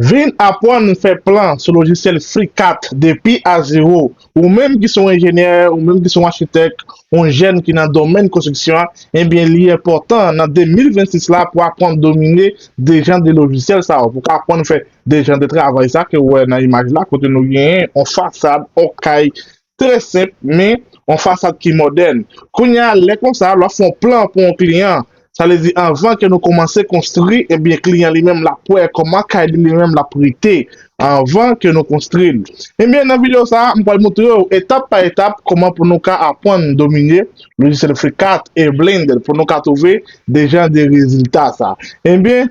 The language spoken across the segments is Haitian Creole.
Vin apwann fè plan sou lojisyèl FreeCAD depi a zewo. Ou menm ki se yon enjenyè, ou menm ki se yon achitèk, yon jèn ki nan domèn konstriksyon an, ebyen li enpòtan nan 2026 la pou apwann domine de jan de lojisyèl sa yo, pou ka apwann fè de jan de travay sa ke ou wè nan imaj la, kote nou genyen yon fasad, yon kay Trè senp men yon fasad ki modèn. Kounye a lè konsa lè w ap fè yon plan pou yon kliyan, sa vle di anvan ke nou kòmanse konstri ebyen kliyan li menm l ap wè kòman kay li li menm l ap rete anvan ke nou konstri l. Ebyen nan videyo sa a m pral moutre w etap pa etap kòman pou nou ka apwann domine lojisyèl Freecad e Blender pou nou ka twouve de jan de rezilta sa. Ebyen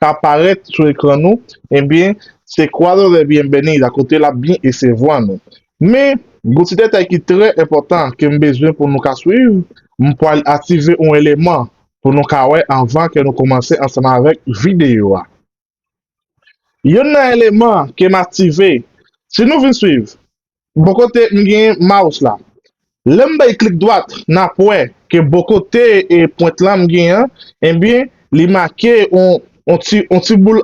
ka parèt sou ekran nou ebyen se Cuadro de Bienvenida kote l ap byen esevwa nou. Men, gon ti detay ki trè enpòtan ke m bezwen pou nou ka swiv, m pwal aktive on eleman pou nou ka wè anvan ke nou koumanse ansanm avèk videyo a. Yonn nan eleman ke m aktive, si nou vin swiv, Bon kote m gen mouse la. Lè m bay klik dwat, n ap wè ke bò kote pwent la m gen an, enben li make yon ti boul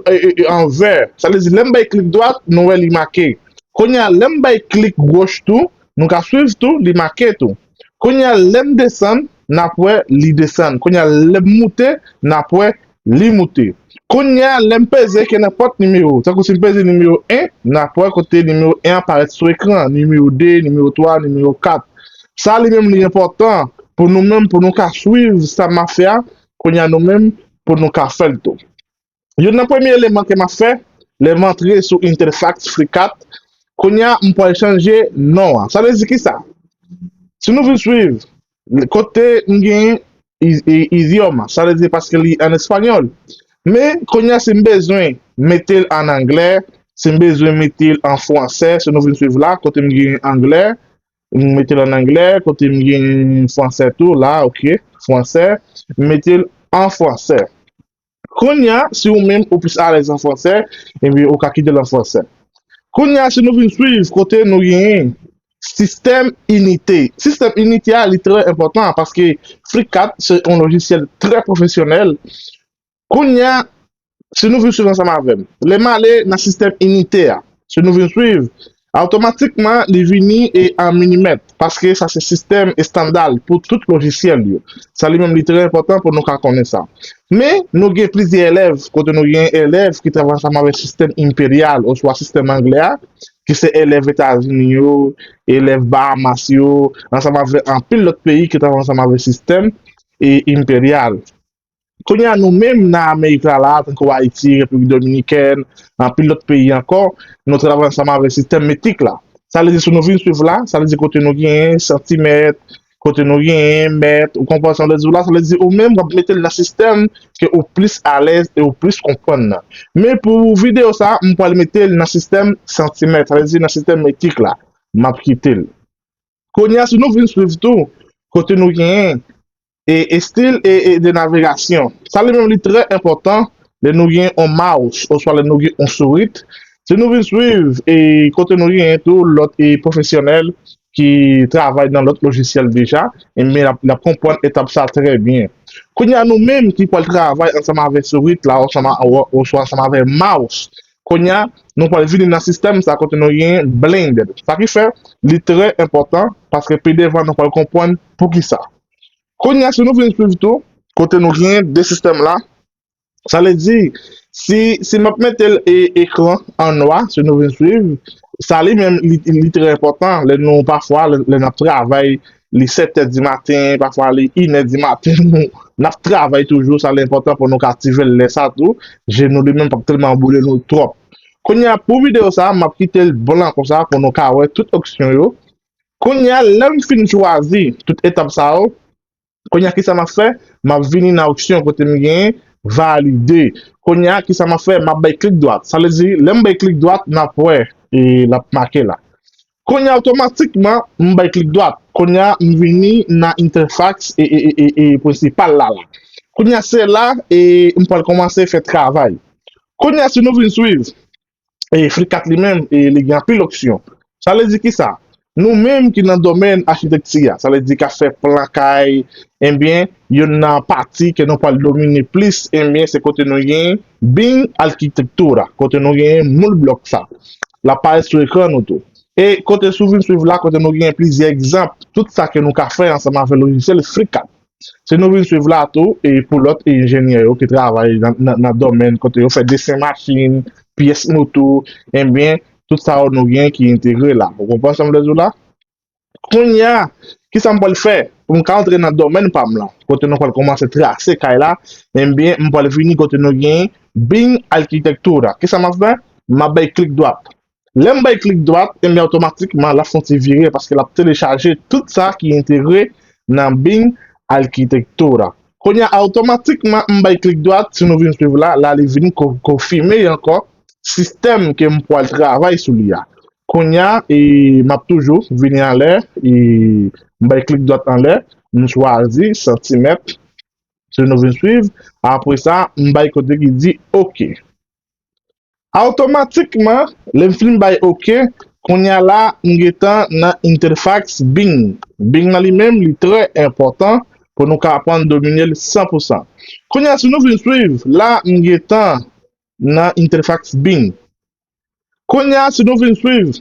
an vè. Sa vle di lè m bay klik dwat, nou wè li make. Kounye a, lè m bay klik goch tou, nou ka swiv tou, li make tou. Kounye a, lè m desann, n ap wè li desann. Kounye a, lè m moute, n ap wè Li moute. Kounye a, lè m peze ke nenpòt nimewo, tankou si m peze nimewo 1, n ap wè kote nimewo 1 an parèt sou ekran an, nimewo 2, nimewo 3, nimewo 4. Sa li menm li enpòtan pou nou menm pou nou ka swiv sa m ap fè a, kounye a nou menm pou nou ka fè l tou. Youn nan premye eleman ke m ap fè, lè m antre sou Interfax FreeCAD, kounye a m pwal chanje non an. Sa vle di kisa? Si nou vin swiv, Kote m gen idioma, sa vle di paske li an espanyòl. Men, konya si m bezwen mete l an anglè, si m bezwen mete l an fransè, si nou vin suiv la, kote m gen anglè, m mete l an anglè, kote m gen fransè tou, la, ok, fransè, m mete l an fransè. Kounya, si ou menm ou plis alèz an fransè, enben ou ka kite l an fransè. Kounya, si nou vin swiv kote nou genyen sistèm inite. Sistèm inite a li trè enpòtan paske FlickCap se yon lojisyèl trè pwofesyonèl. Kounya, si nou vin swiv ansanm avè m, lè m ale nan sistèm inite a, si nou vin swiv, Awtomatikman li vini e an minimèt, paske sa se sistèm estanda l pou tout lojisyèl yo. Sa li menm li trè enpòtan pou nou ka konnen sa. Men, nou gen plizyè elèv, kote nou gen elèv ki travay ansanm avèk sistèm enperyal oswa sistèm anglè a, ki se elèv Etazini yo, elèv Bahamas yo, ansanm avèk anpil lòt peyi ki travay ansanm avèk sistèm enperyal. Kounye a nou menm nan Amerik la la, tankou Ayiti, Repiblik Dominikèn, anpil lòt peyi ankò, nou travay ansanm avèk sistèm metrik la. Sa vle di si nou vin swiv la, sa vle di kote nou genyen santimèt, kote nou genyen mèt, ou konprann sa m vle di w la, sa vle di ou menm w ap mete l nan sistèm ke ou plis alèz e ou plis konprann nan. Men pou videyo sa, m pral mete l nan sistèm santimèt, sa vle di nan sistèm metrik la. M ap kite l. Kounye a si nou vin swiv tou, kote nou genyen. e estil e de navegasyon. Sa li menm li trè enpòtan lè nou gen on mouse oswa lè nou gen on sourit, si nou vin swiv e kote nou genyen tou lòt e pwofesyonèl ki travay nan lòt lojisyèl deja, enben n ap konprann etap sa trè byen. Kounye a nou menm ki pwal travay ansanm avè sourit la oswa ansanm avè mouse, kounye a nou pwal vini nan sistèm sa kote nou genyen blend. Sa ki fè li trè enpòtan paske pi devan nou pwal konprann poukisa. Kounye a, si nou vin swiv tou, kote nou gen de sistèm la, sa vle di, si m ap mete l ekran an nwa, si nou vin swiv, sa li menm li trè enpòtan lè nou pafwa, lè n ap travay, li sètè di maten, pafwa li inè di maten, n ap travay toujou, sa li enpòtan pou nou ka aktive l lè sa tou, je nou li menm pa p tèlman boule nou twòp. Kounye a, pou videyo sa, m ap kite l blan konsa pou nou ka wè tout opsyon yo, Kounye a, lè m fin chwazi tout etap sa yo, kounye a ki sa m ap fè? M ap vini nan opsyon kote m genyen Valide. Kounye a, ki sa m ap fè? M ap bay klik dwat. Sa vle di, lè m bay klik dwat, n ap wè e l ap make la. Kounye a, otomatikman, m bay klik dwat. Kounye a, m vini nan entèfaks e prensipal la la. Kounye a, se la e m pral kòmanse fè travay. Kounye a, si nou vin swiv, e FRICAT li menm e li gen anpil opsyon. Sa vle di kisa? Nou menm ki nan domèn achitekti a, sa vle di kap fè plan kay, enbyen youn nan pati ke nou pwal domine plis enbyen se kote nou gen Bing Arquitectura, kote nou gen moul blòk sa. Lap parèt sou ekran nou tou. E kote sou vin swiv la kote nou gen plizyè egzanp tout sa ke nou ka fè ansanm avè lojisyèl FRICAT. Se nou vin swiv la tou e pou lòt enjenyè yo ki travay nan domèn kote yo fè desen machin, pyès moto, enben tout sa yo nou gen ki entegre la. Ou konprann sa m vle di w la? Kounye a, ki sa m pral fè pou m ka antre nan domèn pa m lan? Kote nou pral kòmanse trase kay la, enben m pral vini kote nou gen Bing Arquitectura. Ki sa m ap fè? M ap bay klik dwat. Lè m bay klik dwat, enben otomatikman l ap fè yon ti vire paske l ap telechaje tout sa ki entegre nan Bing Arquitectura. Kounye a otomatikman m bay klik dwat, si nou vin swiv la, la li vin konfime ankò sistèm ke m pwal travay sou li a. Kounye a e m ap toujou vini anlè e m bay klik dwat anlè, m chwazi santimèt, si nou vin swiv, apre sa m bay kote ki di ok. Awtomatikman lè m fin bay ok, kounya la m gentan nan Interfax Bing. Bing nan li menm li trè enpòtan pou nou ka aprann domine l san pou san. Kounya si nou vin swiv, la m gentan nan Interfax Bing. Kounya si nou vin swiv,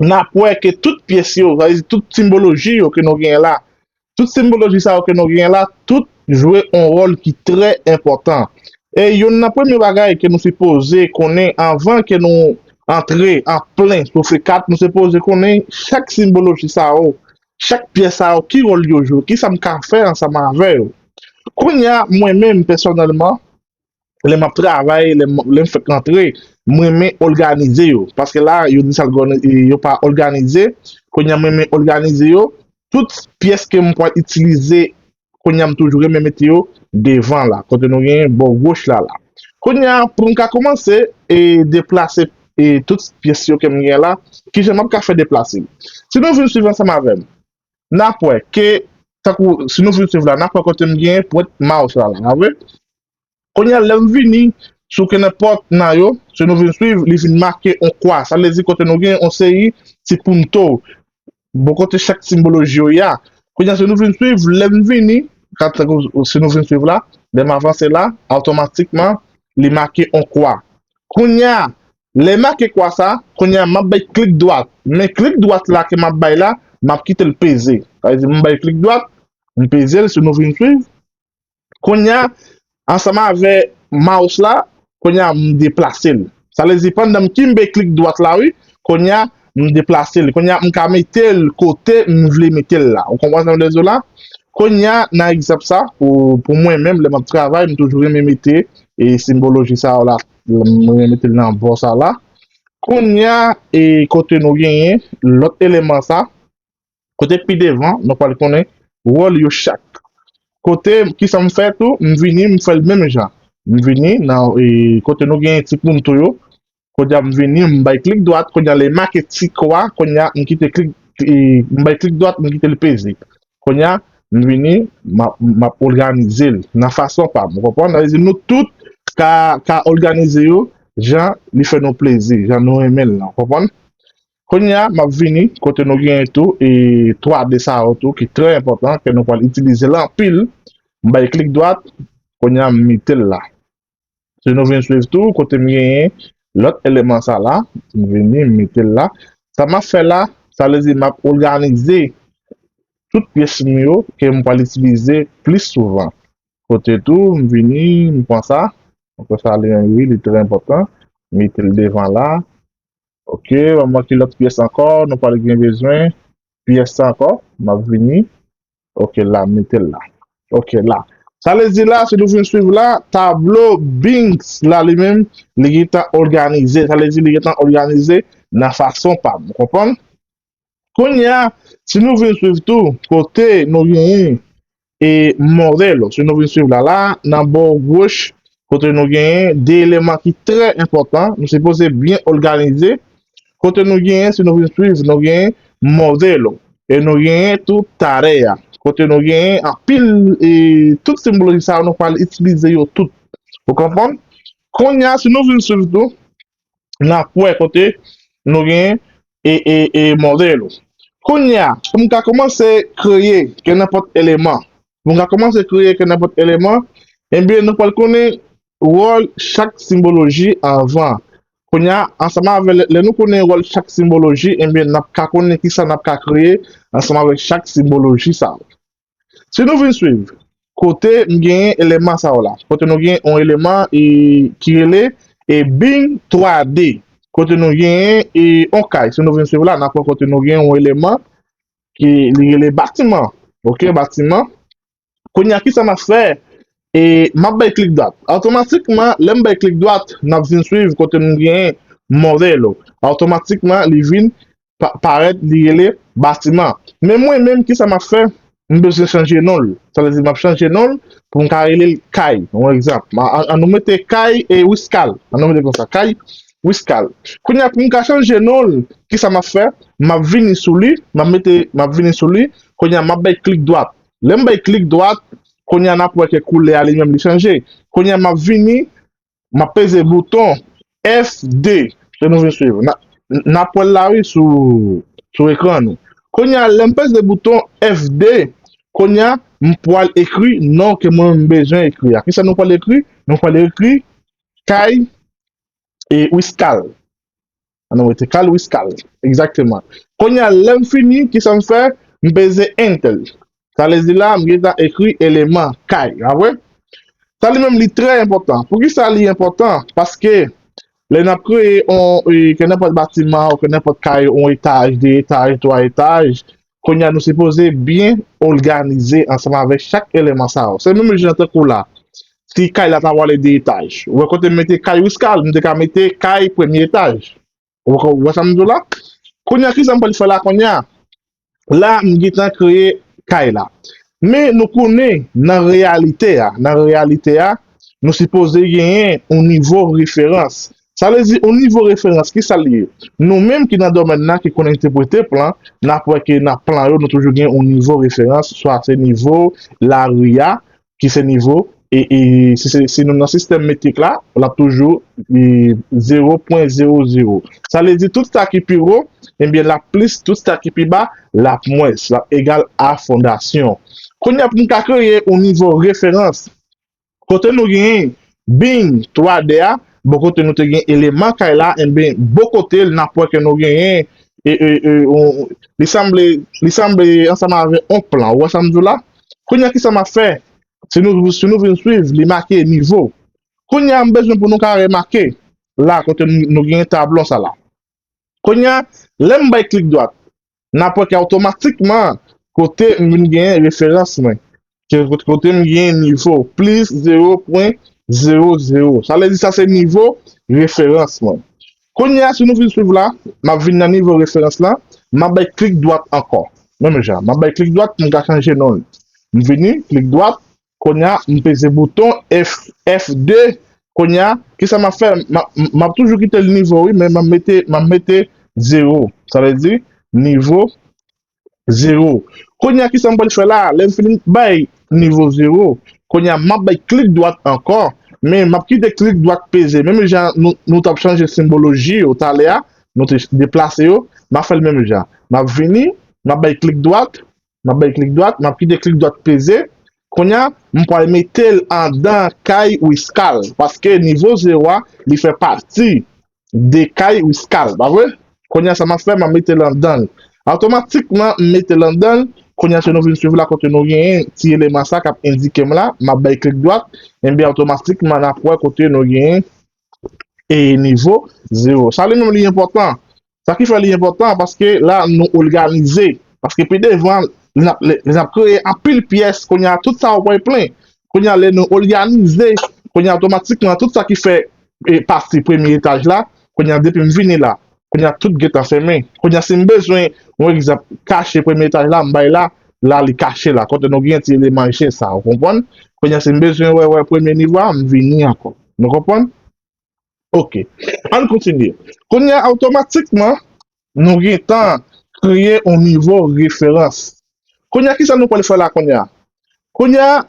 n ap wè ke tout pyès yo, sa vle di tout simbolojie yo ke nou genyen la, Tout simbolojik sa yo ke nou genyen la, tout jwe yon wòl ki trè enpòtan. E yonn nan premye bagay ke nou sipoze konnen anvan ke nou antre an plen sou fè kat, nou sipoze konnen chak simbolojik sa yo, chak pyès sa yo, ki wòl yo jwe, kisa m ka fè ansanm avè yo. Kounya mwen menm pèsonèlman, lè m ap travay, lè m fèk rantre, m renmen òganize yo. Paske la, yo di sa l gòne, yo pa òganize. Kounye a m renmen òganize yo. Tout pyès ke m pral itilize, kounye a m toujou renmen mete yo devan la. Kote nou gen bò goch la la. Kounye a, pou m ka koumanse e deplase e tout pyès yo ke m gen la, ki jan m ap ka fè deplase yo. Si nou vin swiv ansanm avè m. nap wè ke tankou si nou fin swiv la nap wè kotem gen pwent mouse la la vre kounya lèm vini sou kenenpòt nan yo si nou vin swiv li vin make yon kwa sa vle di kote nou gen yon seri ti punto bò kote chak simboloji yo ya kounya si nou vin swiv lèm vini kat tankou si nou vin swiv la lèm avanse la otomatikman li make yon kwa kounya Lè make kwa sa, kounye a map bay klik dwat, men klik dwat la ke map bay la, map kitel peze. Sa vle di m bay klik dwat, m pezel si nou vin swiv. Kounye a, ansanm avè mouse la, kounye a m deplasel. Sa vle di pandan m kimbe klik dwat la wi, kounye a m deplasel. Kounye a m ka metel kote m vle metel la. Ou konprann sa m vle diw la? Kounye a nan egzanp sa, pou mwen menm lè map travay, m toujou renmen mete e simboloji sa yo la Mwen remete l nan bò sa la. Kounye a, e kote nou genyen lòt eleman sa, kote pi devan, nou pral konnen wòl yo chak. Kote, ki sa m fè tou, m vini m fè l menm jan. M vini nan, e kote nou genyen ti punto yo, kounye a m vini m bay klik dwat, kounye a lè make ti kwa, kounye a m kite klik, e m bay klik dwat, m kite l peze. Kounye a, m vini, m ap òganize l nan fason pa m. Ou konprann? Sa vle di nou tout ka òganize yo jan li fè nou plezi, jan nou renmen l lan. Ou konprann? Kounye a, m ap vini kote nou genyen tou e 3D sa yo tou ki trè enpòtan, ke nou pral itilize l anpil. M bay klik dwat, kounye a m mete l la. Si nou vin swiv tou kote m genyen lòt eleman sa la, m vini m mete l la, sa m ap fè la, sa vle di m ap oganize tout pyès m yo ke m pral itilize plis souvan. Kote tou m vini m pran sa, m kwè sa li wi li trè enpòtan, m mete l devan la, ok, ban m wè ki lòt pyès ankò nou pral gen bezwen, pyès sa ankò, m ap vini Ok la, metel la. Ok la. Sa vle di la, si nou fin swiv la, tablo Binks la li menm, li gentan òganize. Sa vle di li gentan òganize nan fason pa m. Ou konprann? Kounye a, si nou vin swiv tou, kote nou genyen e Morello. Si nou vin swiv la la, nan bò goch, kote nou genyen de eleman ki trè enpòtan, nou sipoze byen òganize, kote nou genyen si nou vin swiv nou genyen modelo e nou genyen tou tarea, kote nou genyen anpil e tout simboloji sa yo nou pral itilize yo tout ou konprann? Konnya si nou vin swiv tou nap wè kote nou gen e model ou kounya pou m ka kòmanse kreye ke nenpòt eleman pou m ka kòmanse kreye ke nenpòt eleman ebyen nou pwal konnen wòl chak simboloji anvan kounya ansanm avè lè nou konnen wòl chak simboloji ebyen nap ka konnen kisa nap ka kreye ansanm avèk chak simboloji sa. Si nou vin swiv, kote m genyen eleman sa yo la, kote nou genyen yon eleman e ki rele e bing 3 d, kote nou genyen e yon kay, si nou vin swiv la, n ap wè kote nou genyen yon eleman ki li rele batiman, ok, batiman. Kounye a, kisa m ap fè? E m ap bay klik dwat. Otomatikman, lè m bay klik dwat, n ap vin swiv kote m genyen modelo. Otomatikman, li vin parèt li rele batiman men mwen menm kisa map fè m bezwen chanje non l sa vle di map chanje non l pou m ka rele l kay yon egzanp an nou mete kay e wiskal an nou mete konsa kay wiskal kounye a pou m ka chanje non l kisa map fè map vini sou li map mete map vini sou li kounye a map bay klik dwat lè m bay klik dwat kounye a nap wè ke koulè a li menm li chanje kounye a map vini Map peze bouton FD pou nou vin swiv. Na nap wèl la wi sou sou ekran nou. Konya lèm peze bouton FD, konya m pwal ekri non ke mwen m bezwen ekri a. Kisa nou pwal ekri? Nou pwal ekri Kay e Wiscall. An nou mete kal wi skal. Egzakteman. Kounye a lè m fini, ki sa m fè? M peze Enter. Sa vle di la, m gentan ekri eleman kay. Pa vre? Sa li menm li trè enpòtan. Poukisa li enpòtan? Paske lè n ap kreye yon, ke nenpòt batiman, ke nenpòt kay, yon etaj, de etaj, twa etaj, Konya nou sipoze byen oganize ansanm avèk chak eleman sa yo. Se menm jan tankou la, si kay la ta vale 2 etaj, ou wè kote m mete kay Wiscard, m te ka mete kay premye etaj. Ou wè sa m di w la? Konya kisa m pral fè la konya? La m gentan kreye kay la. Men nou konnen nan reyalite a, nan reyalite a, nou sipoze genyen yon nivo referans. Sa vle di yon nivo referans, kisa li ye? Nou menm ki nan domèn nan, ki konnen entepwete plan, n ap wè ke nan plan yo nou toujou gen yon nivo referans, swa se nivo lari a, ki se nivo, e si nou nan sistèm metrik la, l ap toujou 0.00. Sa vle di tout sa ki pi wo, enbyen l ap plis, tout sa ki pi ba, l ap mwens, l ap egal a fondasyon. Kounye a pou m ka kreye yon nivo referans, Kote nou gen bing 3 de a bon kote nou te gen eleman kay la en ben bo kotel nap wè ke nou gen e e e li sanble li sanble ansanm avè on plan ou wè sam di w la kounya kisa map fè si nou si nou vin swiv li make nivo kounya m bezwen pou nou ka remake la kote nou gen tablon sa la kounya lèm bay klik dwat nan pwen ki otomatikman kote m vin genyen referans mwen, kote m genyen nivo, plis 0.00. Sa vle di sa se nivo referans mwen. Kounye a, si nou vin swiv la, m ap vin nan nivo referans la, m ap bay klik dwat ankò. Menm jan, m ap bay klik dwat pou m ka chanje non li. M vini, klik dwat, Konya m peze bouton F2 konya kisa map fè map toujou kite l nivo wi men map mete 0 sa vle di nivo 0 konya kisa m pral fè la lèm fini bay nivo 0 konya map bay klik dwat ankò men map kite klik dwat peze menm jan nou tap chanje simboloji yo talè a nou te deplase yo map fèl menm jan map vini map bay klik dwat Map bay klik dwat, map kite klik dwat peze, kounya m pwal metel andan kay Wiscall paske nivo 0 a li fè pati de kay Wiscall pa vre? Kounya sa map fè map metel andanl awtomatikman m metel andanl kounya si nou vin swiv la kote nou genyen ti eleman sa kap endikem la map bay klik dwat enbyen awtomatikman nap wè kote nou genyen e nivo 0 sa li menm li enpòtan Sa ki fè li enpòtan paske la nou olganize. Paske pi devan li nap li nap kreye anpil pyès kounye a tout sa ou wè plen. Kounye a lè nou olganize kounye a otomatikman tout sa ki fè e pati premye etaj la kounye a depi m vini la kounye a tout gentan fèmen. Kounye a si m bezwen yon egzanp kache premye etaj la m bay la la li kache la kote nou gen ti eleman je sa ou konprann. Kounye a si m bezwen wè wè premye nivo a m vini ankò. Nou konprann? Ok, ann kontinye. Kounye a, otomatikman, nou gen tan kreye yon nivo referans. Kounye a, ki sa nou pral fè la kounye a? Kounye a,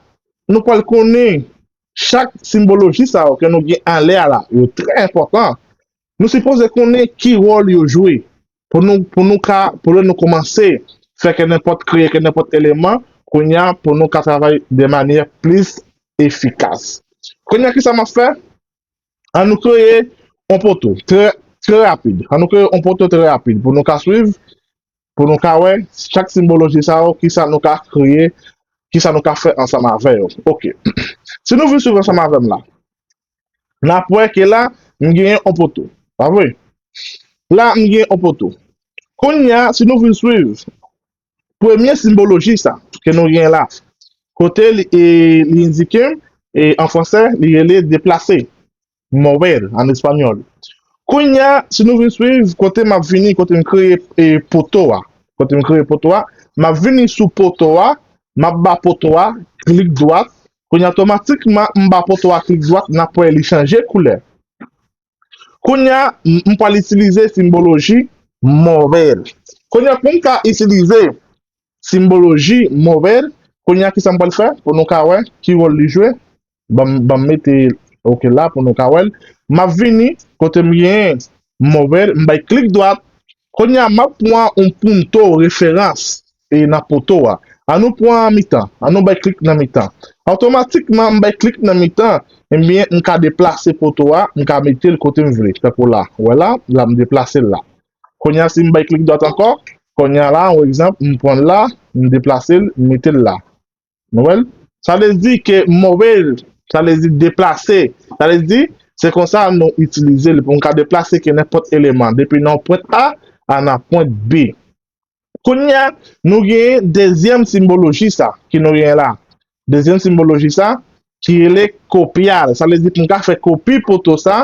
nou pral konnen chak simboloji sa yo ke nou gen anlè a la, yo trè enpòtan, nou sipoze konnen ki wòl yo jwe. Pou nou pou nou ka pou lè nou koumanse fè kennenpòt kreye kennenpòt eleman kounya pou nou ka travay de manyè plis efikas. Kounya kisa map fè? An nou kreye on poto trè trè rapid. An nou kreye on poto trè rapid pou nou ka swiv pou nou ka wè chak simboloji sa yo kisa nou ka kreye kisa nou ka fè ansanm avè yo. Ok. Si nou vin swiv ansanm avèm la N ap wè ke la m genyen yon poto. Pa vre? La m genyen yon poto. Kounye a, si nou vin swiv premye simboloji sa ke nou genyen la, kote li endike, an franse, li rele deplase, mover an espanyòl. Kounye a, si nou vin swiv, kote m ap vini, kote m kreye poto a, kote m kreye poto a, m ap vini sou poto a, m ap ba poto a klik dwat, Kounya otomatikman m ba poto a klik dwat nap wè li chanje koulè. Kounya m pwal itilize simboloji mover. Kounya pou m ka itilize simboloji mover, kounya kisa m pwal fè pou nou ka wè ki wòl li jwe. Banm banm mete ok la pou nou ka wèl. Map vini kote m gen mover m bay klik dwat. Kounya map pwan yon punto referans. e nan poto a. An nou pran an mitan. An nou bay klik nan mitan. Otomatikman, m bay klik nan mitan, enben, m ka deplase poto a, m ka mete l kote m vle. Tankou la. Ou wè la? La, m deplase l la. Kounye a, si m bay klik dwat ankò, kounye a la, on egzanp, m pran l la, m deplase l, m mete l la. Nou wè l? Sa vle di ke move, sa vle di deplase. Sa vle di, se konsa nou itilize l pou nou ka deplase ke nenpòt eleman depi nan yon pwent A al nan pwent B. Kounye a, nou genyen dezyèm simwoloji sa ke nou genyen la. Dezyèm simwoloji sa ki rele kopyal. Sa vle di pou m ka fè kopi poto sa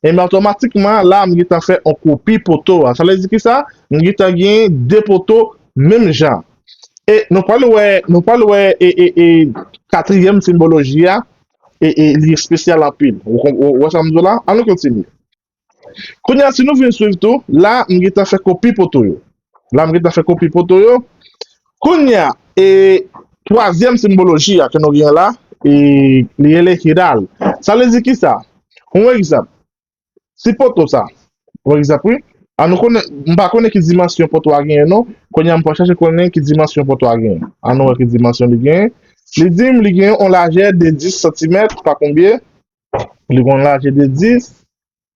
Enben otomatikman la m gentan fè yon kopi poto a. Sa vle di ki sa? M gentan gen 2 poto menm jan. E nou pral wè, nou pral wè e e e katriyèm sinboloji a e e li espesyal anpil. Ou wè sa m di w la? An nou kontinye. Kounye a si nou vin swiv tou, la m gentan fè kopi poto yo. la m gen tan fè kopi foto yo kounye a e twazyèm senboloji a ke nou gen la e li rele hidal sa vle di kisa yon egzanp si poto sa yon egzanp wi a nou konnen m pa konnen ki dimansyon poto a genyen non kounye a m pral chache konnen ki dimansyon poto a genyen a nou wè ki dimansyon li genyen li di m li genyen yon lajè de 10 santimèt pa konbyen li gon lajè de 10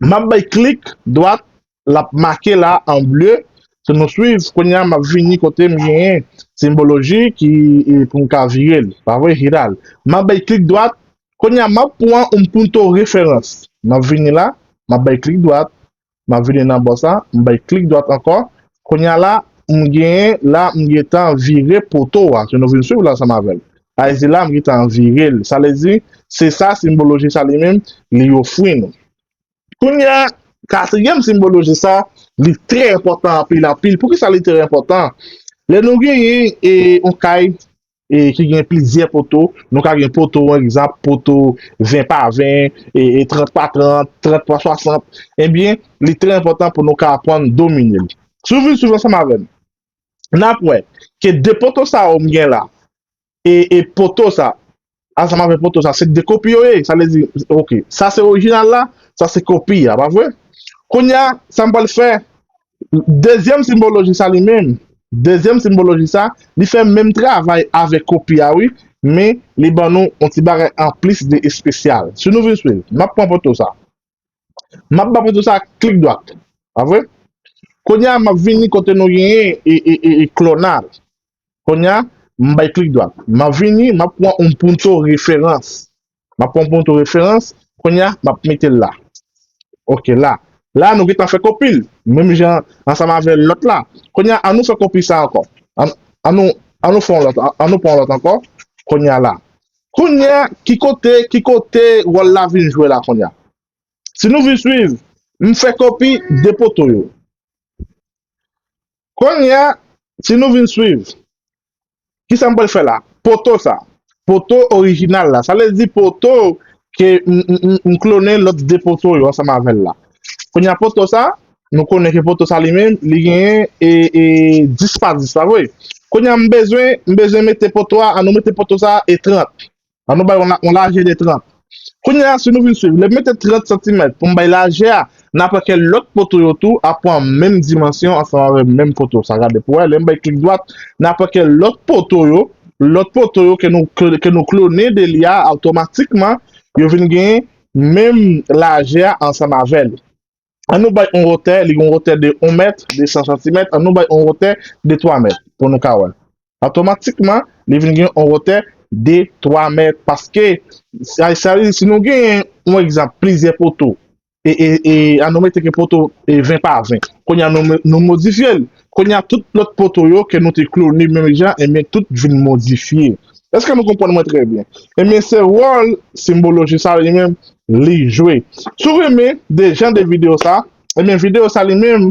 Map bay klik dwat lap make la an ble pou nou swiv kounya map vini kotem genyen simboloji ki poum ka virel pavre Hiral map bay klik dwat kounya map pwan oun punto referans map vini la map bay klik dwat map vini nan bò sa m bay klik dwat ankò Kounya la m gen la m gentan vire poto a ke nou vin swiv la ansanm avè l. A e di la m gentan vire l. Sa vle di, se sa sinboloji sa li menm li ofri nou. Kounya, katriyèm sinboloji sa, li trè enpòtan anpil anpil. Poukisa li trè enpòtan? Lè nou genyen e yon kay ki gen plizyè poto, nou ka gen poto an egzanp, poto 20 pa 20, 30 pa 30, 30 pa 60, enbyen li trè enpòtan pou nou ka aprann domine l. Si w vin swiv ansanm avè m, n ap wè ke 2 poto sa yo m gen la e poto sa ansanm avè poto sa, se 2 kopi yo ye, sa vle di, ok, sa se orijinal la, sa se kopi a, pa vre? Kounye a, sa m pral fè, Dezyèm sinboloji sa li menm, dezyèm sinboloji sa, li fè menm travay avèk kopi a wi, men li ban nou yon ti bagay anplis de espesyal. Si nou vin swiv, m ap pran poto sa. M ap ba poto sa klik dwat. Pa vre? Kounye a, m ap vini kote nou genyen e, e, e, e klonal. Kounye a, m bay klik dwat. M ap vini, m ap pran yon poto referans. M ap pran yon photo referans. Kounye a, m ap mete l la. Ok, la. La, nou gen tan fè kopi l. Menm jan ansanm avè lòt la. Kounye a, an nou fè kopi sa ankò. An, an nou, an nou fè yon lòt, an nou pran yon lòt ankò. Kounye a la. Kounye a, ki kote, ki kote wòl la vin jwe la kounye a? Si nou vin suiv, m fè kopi 2 poto yo. Kounye a, si nou vin suiv, Kisa m pral fè la? Poto sa. Poto orijinal la. Sa vle di poto ke m klone lòt 2 poto yo ansanm avè l la. Kounye a poto sa, nou konnen ke poto sa li menm, li genyen 10 pa 10, pa vre? Kounye a m bezwen, m bezwen mete poto a, an nou mete poto sa e 30. An nou bay yon lajè de 30. Kounye a, si nou vin swiv, lè m mete 30 santimèt pou m bay lajè a, n a pran ke lòt poto yo tou ap pran menm dimansyon ansanm avèk menm poto sa. Gade pou wè, lè m bay klik dwat, n a pran ke lòt poto yo, lòt poto yo ke nou klone de li a, otomatikman, yo vin gen menm lajè a ansanm avè li. An nou bay yon wotè, li gen yon wotè de 1 mèt, 200 santimèt, an nou bay yon wotè de 3 mèt pou nou ka wè. Otomatikman, li vin gen yon wotè de 3 mèt paske sa vle di si nou gen yon egzanp plizyè poto e an nou mete ke poto 20 pa 20. Kounye a nou modifye l, Kounye a tout lòt poto yo ke nou te klone menm jan enben tout vin modifye. Eske nou konprann mwen trè byen? Enben se wòl Simboloji sa li menm li jwe. Si w renmen de jan de videyo sa, enben videyo sa li menm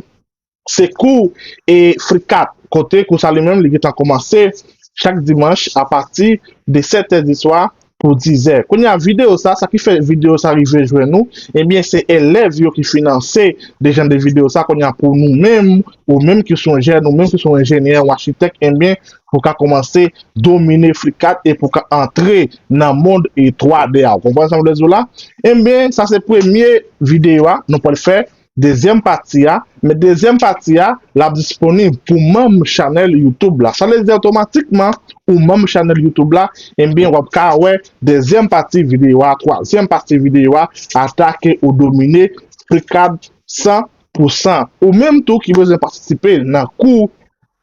se kou e frikap kote kou sa li menm li gentan koumanse chak dimanch apati de 7 è di swa pou dizè. Kounye a video sa, sa ki fè video sa rive jwenn ou, ebyen se elèv yo ki finanse de jan de video sa, kounye a pou nou menm, ou menm ki son jèn, ou menm ki son enjenyè ou achitèk, ebyen pou ka kòmanse domine FlickArt e pou ka antre nan mond 3D a. Ou konprann sa m vle di w la? Ebyen sa se premye video a nou pral fè. dezyèm pati a, men dezyèm pati a lap disponib pou manm chanèl youtube la, sa vle di otomatikman ou manm chanèl youtube la ebyen wap ka wè dezyèm pati videyo a, twazyèm pati videyo a, atake ou domine frikad 100 pou 100. Ou menm tou ki bezwen patisipe nan kou